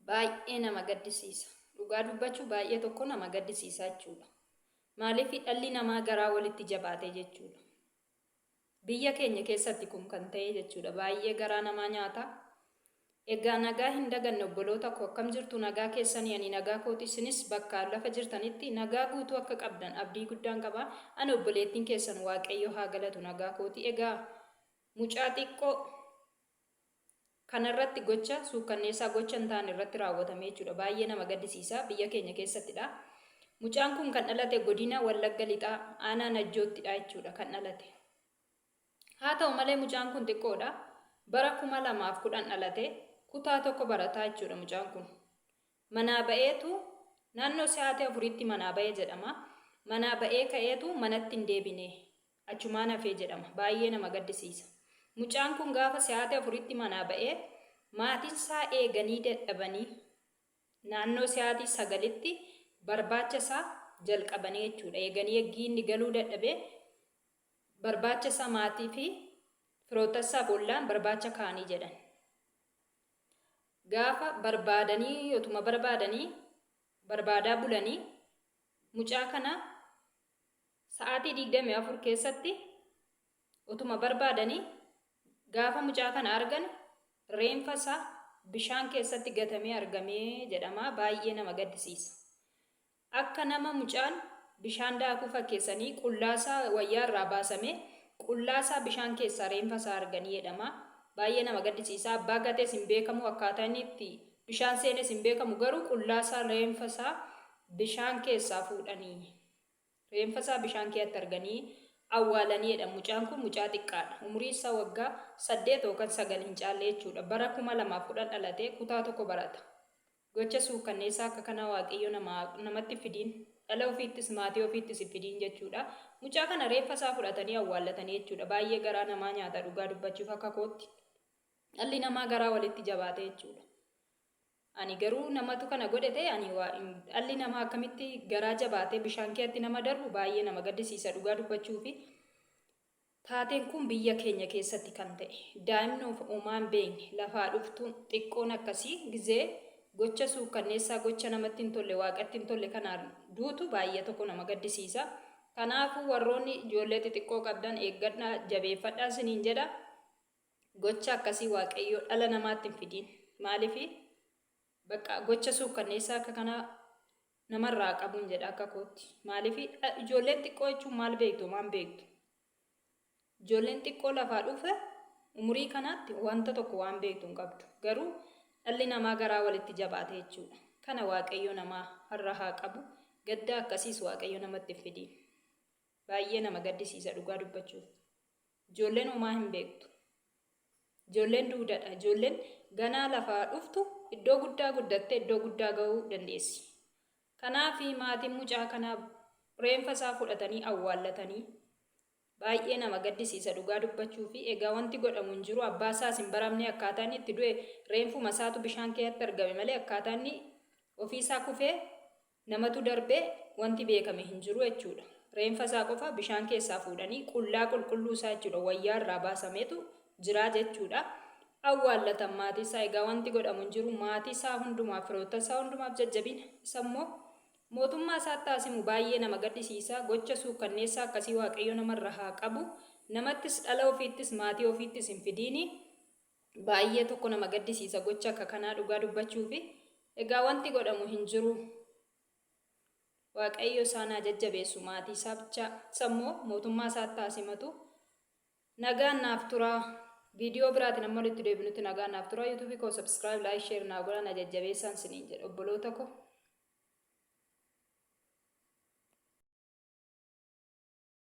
baay'ee nama gaddisiisa. Dhugaa dubbachuu baay'ee tokko nama gaddisiisaa jechuudha. Maaliif dhalli namaa garaa walitti jabaatee jechuudha. Biyya keenya keessatti kun kan ta'e jechuudha. Baay'ee garaa namaa nyaata. Egaa nagaa hin daganne obboloota koo akkam jirtu nagaa keessanii ani nagaa kooti isinis bakka lafa jirtanitti nagaa guutuu akka qabdan abdii guddaan qaba. Ani obboleettiin keessan waaqayyo haa galatu nagaa kooti. Egaa mucaa xiqqoo kana irratti gocha suukkanneessaa gocha hin taane irratti raawwatame jechuudha. Baay'ee nama gaddisiisa. Biyya keenya keessattidha. Mucaan kun kan dhalate godina Wallagga Lixaa aanaa Najjoottidha jechuudha kan dhalate. Haa ta'u malee mucaan kun xiqqoodha. Bara 2010 dhalate kutaa tokko barataa jechuudha mucaan kun. Manaa ba'eetu naannoo sa'aatii afuriitti manaa ba'e jedhama. Manaa ba'ee ka'eetu manatti hin deebine. achumaan hafee jedhama. Baay'ee nama gaddisiisa. Mucaan kun gaafa sa'aatii afuritti manaa ba'ee maatiin isaa eeganii dadhabanii naannoo sa'aatii sagalitti barbaacha isaa jalqabanii jechuudha. Eeganii eggii inni galuu dadhabee barbaacha isaa maatii fi firoota isaaf ollaan barbaacha kaanii jedhan. Gaafa barbaadanii yotuma barbaadanii barbaadaa bulanii mucaa kana Sa'aatii 24 keessatti otuma barbaadanii gaafa mucaa kana argan reenfa isaa bishaan keessatti gatamee argamee jedhama baay'ee nama gaddisiisa. Akka nama mucaan bishaan daakuu fakkeessanii qullaasaa wayyaa irraa baasamee qullaasaa bishaan keessaa reenfa isaa arganii jedhama baay'ee nama gaddisiisa abbaa gatees hin beekamu akkaataa inni itti bishaan seenes hin beekamu garuu qullaasaa reenfa isaa bishaan keessaa fuudhanii. Reenfa isaa bishaan keeatti arganii awwaalani jedhan. Mucaan kun mucaa xiqqaadha. Umuriin isaa waggaa 8 yookan 9 hin caalle jechuudha. Bara 2010 dhalatee kutaa 1 barata. Gocha suukkanneessaa akka kanaa Waaqayyo namaa namatti hin fidiin. Dhala ofiittis maatii ofiittis hin fidiin jechuudha. Mucaa kana reeffa isaa fudhatanii awwaallatani jechuudha. Baay'ee garaa namaa nyaata dhugaa dubbachuuf akka kootti. Dhalli namaa garaa walitti jabaate jechuudha. Ani garuu namatu kana godhe ta'e ani waa hin dhalli namaa akkamitti garaa jabaatee bishaan keeatti nama darbu baay'ee nama gaddisiisa dhugaa dubbachuufi taateen kun biyya keenya keessatti kan ta'e daa'imni of uumaa hin beekne lafaa dhuftuun xiqqoon akkasii gizee gocha suukkanneessaa gocha namatti hin tolle waaqatti hin tolle kanaan duutu baay'ee tokko nama gaddisiisa kanaafuu warroonni ijoollee xixiqqoo qabdan eeggadhaa jabeeffadhaa siniin jedha Gocha akkasii Waaqayyoo dhala namaatti hin fidiin. Maaliifi? Baqqa gocha suukkanneessaa akka kanaa namarraa haa qabuun jedha akka kootti. Maaliifi? Ijoolleen xiqqoo jechuun maal beektu homaa hin beektu. Ijoolleen xiqqoo lafaa dhufe umurii kanaatti wanta tokko waan beektu hin qabdu. Garuu dhalli namaa garaa walitti jabaate jechuudha. Kana Waaqayyo namaa irraa haa qabu. Gadda akkasiis Waaqayyo namatti hin fidiin. Baay'ee nama gaddisiisa dhugaa dubbachuuf. Ijoolleen homaa hin beektu. Ijoolleen duudadha. Ijoolleen ganaa lafaa dhuftu iddoo guddaa guddattee iddoo guddaa ga'uu dandeessi. Kanaaf maatiin mucaa kanaa reenfa isaa fudhatanii awwaallatanii baay'ee nama gaddisiisa dhugaa dubbachuu fi egaa wanti godhamu hin jiru abbaa isaas hin baramne akkaataa inni itti du'e reenfuma isaatu bishaan keessatti argame malee akkaataa inni ofii isaa kufee namatu darbe wanti beekame hin jiru jechuudha. Reenfa isaa qofa bishaan keessaa fuudhanii qullaa qulqulluu isaa jechuudha wayyaa irraa baasameetu jiraa jechuudha. Awwaallatan maatii isaa egaa wanti godhamu hin jiru maatii isaa hundumaaf firoottan isaa hundumaaf jajjabina isa immoo mootummaa isaatti haa simu baay'ee nama gaddisiisa gocha suukkanneessaa akkasii waaqayyo namarra haa qabu namattis dhala ofiittis maatii ofiittis hin fidiini Baay'ee tokko nama gaddisiisa gochi akka kanaa dhugaa dubbachuufi egaa wanti godhamu hin jiru waaqayyo isaan haa jajjabeessu maatii isaa bichaa sammoo mootummaa isaatti haa simatu nagaan naaf turaa viidiyoo biraatiin amma walitti deebinutti nagaan naaf turaa yuutuubii koo sabskiraayib laayik sheer naa godhaa na jajjabeessaan siniin jedha obboloota koo